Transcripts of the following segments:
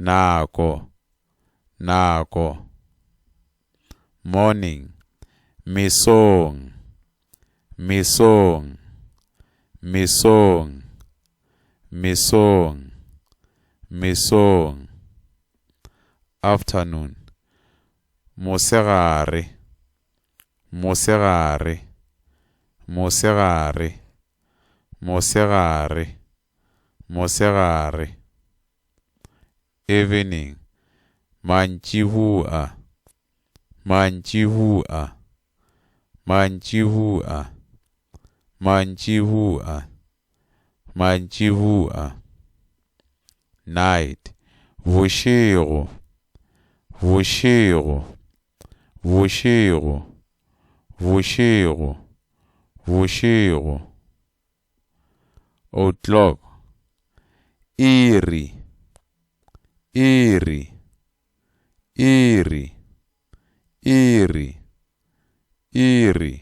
Nako, nako. Morning, Mesong, mesong, mesong, mesong, mesong. Afternoon, Mosegare, mosegare, mosegare, mosegare. mosegare, evening, mantšibua, mantšibua, mantšibua, mantšibua, mantšibua, night, bošego, bošego, bošego, bošego, bošego. o'clock iri iri iri iri iri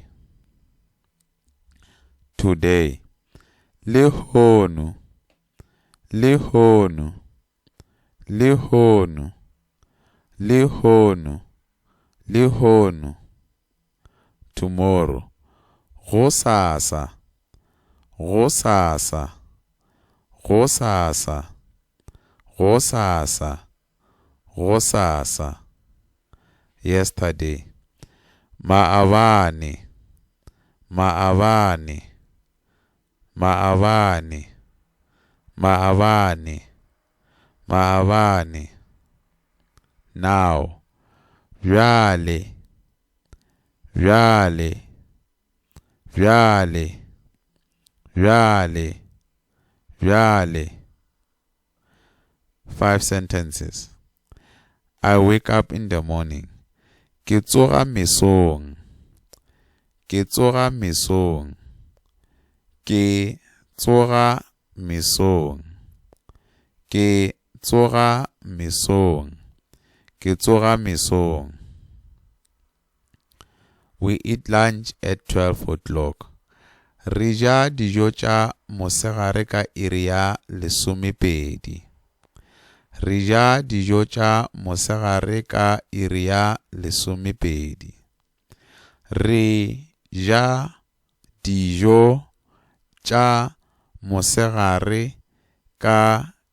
today lehono lehono Lehono, lehono, lehono. Tomorrow, gosasa, gosasa, gosasa, gosasa, gosasa. Yesterday, maabane, maabane, Maabane, maabane, maabane. Now, bjale, bjale, bjale, bjale, bjale. Five sentences. I wake up in the morning, ke tsoga mesong, ke tsoga mesong, ke tsoga mesong, ke tsoga mesong, ke tsoga mesong. we eat lunch at 12.00 re ja dijo tša mosegare ka iri ya lesomepedi re ja dijo tša mosegare ka iri ya lesomepedi re ja dijo tša mosegare ka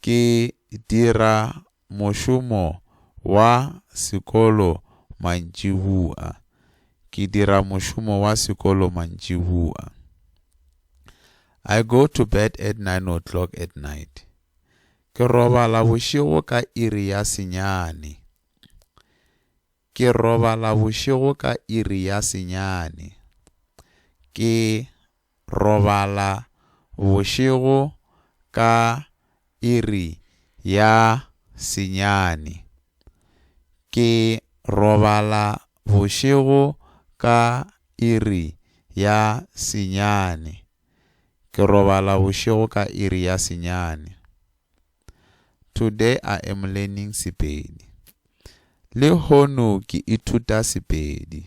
ke dira mošomo wa sekolo mantšibua, ke dira mošomo wa sekolo mantšibua. I go to bed at nine o'clock at night. Ke robala bošego ka iri ya senyane. Ke robala bošego ka iri ya senyane. Ke robala bošego ka iri ya senyane. Ke robala bošego ka iri ya senyane. Ke robala bošego ka iri ya senyane. Today I am learning Sepedi. Lehono ke ithuta Sepedi.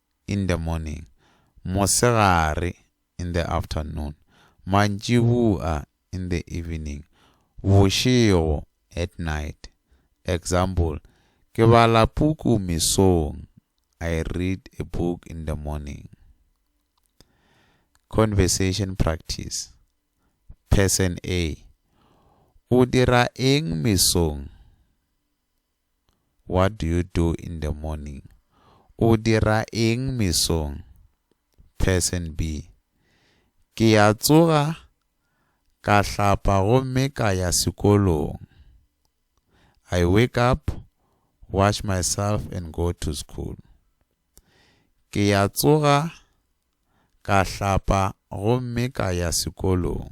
in the morning, mosegare, in the afternoon, mantšibua, in the evening, bošego, at night. Example, Ke bala puku mesong, I read a book in the morning. Conversation practice. Person A, O dira eng mesong? What do you do in the morning? O dira eng mesong? Person B, Ke ya tsoga, ka hlapa gomme ka ya sekolong. I wake up, wash myself and go to school. Ke ya tsoga, ka hlapa gomme ka ya sekolong.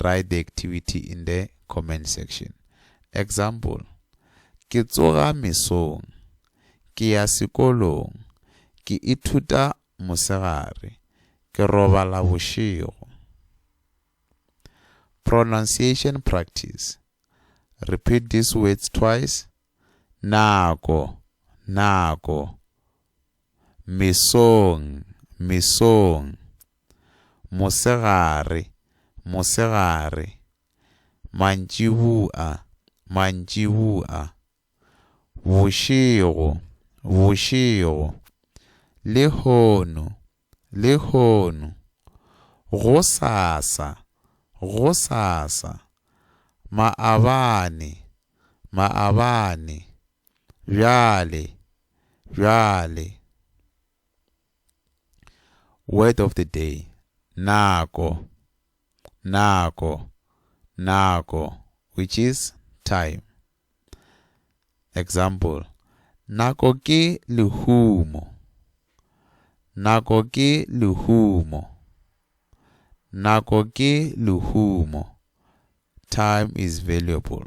Write the activity in the comment section. Example, Ke tsoga mesong. Ke ya sekolong. Ke ithuta mosegare. Ke robala bošego. Pronunciation practice. Repeat these words twice. Nako, nako. Mesong, mesong. Mosegare, mosegare. Mantšibua, mantšibua. Bošego, bošego. Lehono, lehono. Gosasa, gosasa. Maabane, maabane. Bjale, bjale. word of the day nako nako nako which is time ex nako ke lehumo nako ke lehumo nako ke lehumo time is valuable